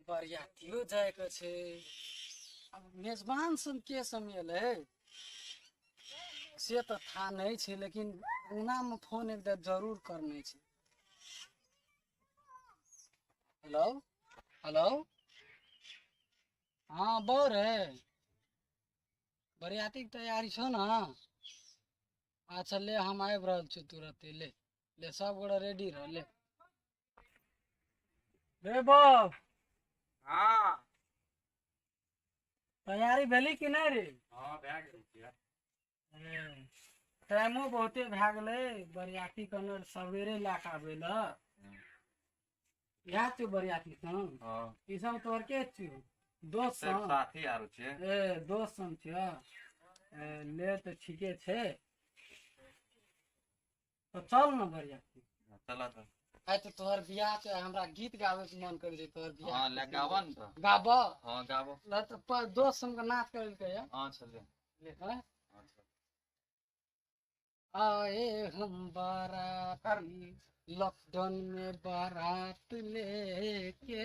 बरियातियो जायके छै अब मेजबान सब के समेल है से तऽ था नहि छै लेकिन उनामे फोन एक बेर जरूर करने छै हेलो हेलो हाँ बौ रे बरियातीके तैयारी छौ ने अच्छा ले हम आबि रहल छी तुरते ले ले सब गोटा रेडी रह ले बेबो हाँ तैयारी भेली कि नहीं रे हाँ भए गेल छियै। हम्म, टाइमो बहुते भए गेलै बरियाती कने सवेरे लए कऽ आबै लए इएह छियौ बरियाती संग हाँ ई सब तोहर के छियौ दोस्त सिर्फ संग साथी आरो छियै ए दोस्त संग छियौ ए, ले तऽ ठीके छै तो चल ना बढ़िया चला तो आइ तऽ तोहर बियाह छै हमरा गीत गाबै के मन करै छै तोहर हाँ बियाह ले गावा न तो गाबऽ हाँ गावा ल तऽ प- दोस्त हमके नाच करेलकै या हाँ चले हैं? हाँ, चल। आए हम बाराती लॉकडाउन में बारात लेके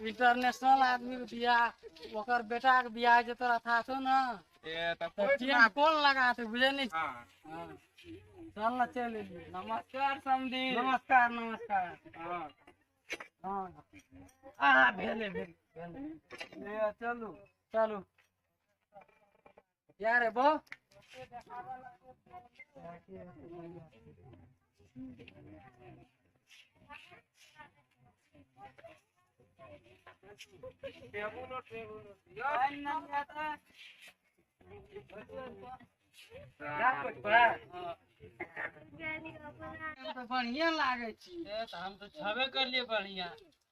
इंटरनेशनल आदमी के बियाह ओकर बेटा के बियाह जे तोरा था छौ ना ए त कोई टेम ना कौन लगा थे बुझे नहीं हां हाँ। चल ना चल एलिए। नमस्कार समधी नमस्कार नमस्कार हां हाँ हाँ भेले भेले भेले। ए चलू चलू क्या रे बो टेबुल टेबुल यार ना जाता बढ़िया लागे छी हम तो छबे कर लिए बढ़िया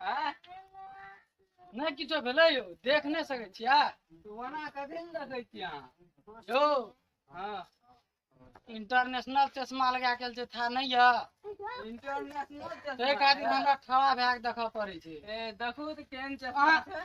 आँय? नहि किछो भेलै यौ देख नहि सकै छियै ओना कथी ने देखै छियै अहाँ यौ हँ इंटरनेशनल चश्मा लगा के आयल छै था नहि यऽ इंटरनेशनल ताहि खातिर हमरा ठड़ा भए के देखऽ पड़ै छै ए देखू तऽ केहन चश्मा अहाँ- छै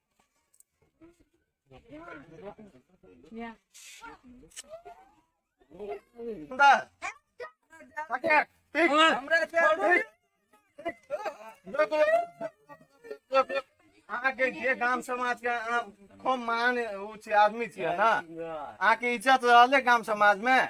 अहाँके जे गाम समाज के अहाँ खूब मान उ छी आदमी छियै ने अहाँके इज्जत रहले गाम समाज में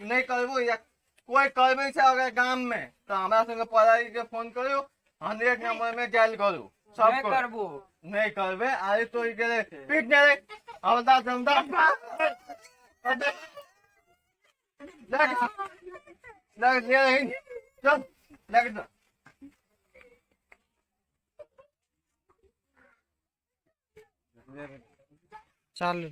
नहीं करबो या कोई करबे से अगर गांव में तो हमरा संगे पढ़ाई के फोन करो हंड्रेड नंबर में डायल करो सब नहीं करबो नहीं करबे अरे तो ई के पीट ने रे अवदा समदा लग लग ले रही चल लग जा चालू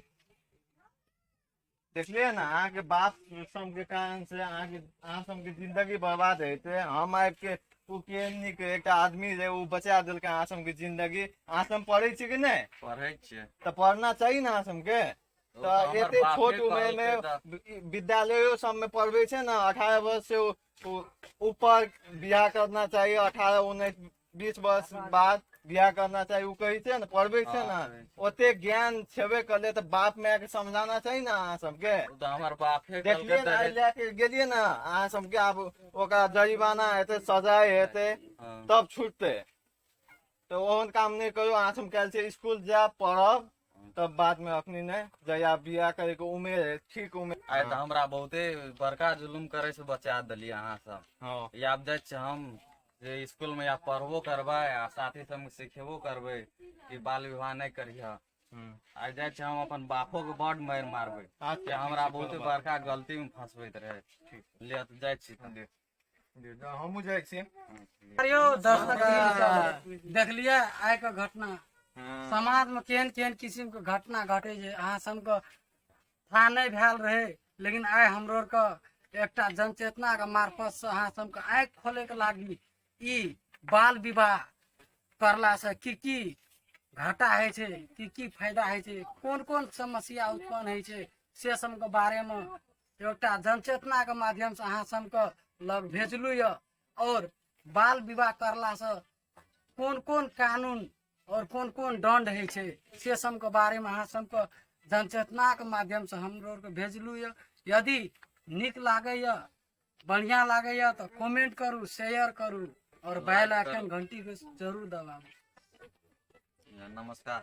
देखलिए ना अहाँ के बाप सब के कारण से अहाँ के अहाँ सब के जिंदगी बर्बाद है ते हम आबि के ओ केहनी के एकटा आदमी जे ओ बचा देलक अहाँ सब के जिंदगी अहाँ सब पढ़े छी कि नहीं पढ़ै छियै तऽ पढ़ना चाही ना अहाँ सब के ओ तऽ हमर एते बापे छोट उम्र कहलकै में तऽ। वि- विद्यालयो सब में पढ़बे छै ना अठारह वर्ष से उ- उ- ऊपर बियाह करना चाहिए अठारह उन्नैस बीस वर्ष बाद बियाह करना चाही ओ कहै छै ने पढ़बै छै ने हाँ, ओते ज्ञान छेबे करले तऽ बाप माय के समझाना चाही ने अहाँ सबके ओ तऽ हमर बापे देखलियै कहलकै ने आइ तऽ लए के गेलियै ने अहाँ सबके आब ओकरा जरिमाना हेतै सजाय हेतै हाँ। तब छुटतै तऽ ओहन काम नहि करू अहाँ सब काल्हि से स्कूल जायब पढ़ब तब बाद में अखनी नहीं जया बिया करे के उम्र है ठीक उम्र आइ तऽ हमरा बहुते बड़का जुलुम करे से बचा देली अहाँ सब हाँ ई आब जाइ छी हम जे स्कूल में या पढ़बो करबै आ साथी सब सिखेबो करबै कि बाल विवाह नहि करिह हम्म। आ जाइ छी हम अपन बापो के बड मारि मारबै अच्छा, कि हमरा ठीक छै, बहुते कोनो बात बड़का गलती में फंसबैत रहै ले तऽ जाइ छी तऽ। हमहूँ जाइ छियै अरे यौ दर्शक देखलियै आइ के घटना समाज में केहन केहन किसिम के घटना घटे छै अहाँ सबके था नहि भेल रहे लेकिन आइ हमरो आरके एकटा जनचेतना के मार्फत से अहाँ सबके आँखि खोले के लागी ई बाल विवाह करला से की की घाटा है छै की की फायदा है छै कोन कोन समस्या उत्पन्न है छै से सबके बारे में एउटा जनचेतनाके माध्यमसँ अहाँ सबके लग भेजलू यऽ आओर बाल विवाह करलासँ कोन कोन कानून आओर कोन कोन दण्ड होइ छै से सबके बारेमे अहाँ सबके जनचेतनाके माध्यमसँ हमरो आरके भेजलू यऽ यदि नीक लागैए बढ़िआँ लागैए तऽ कमेंट करू शेयर करू आओर बेल आइकन घंटीके जरूर दबाबू नमस्कार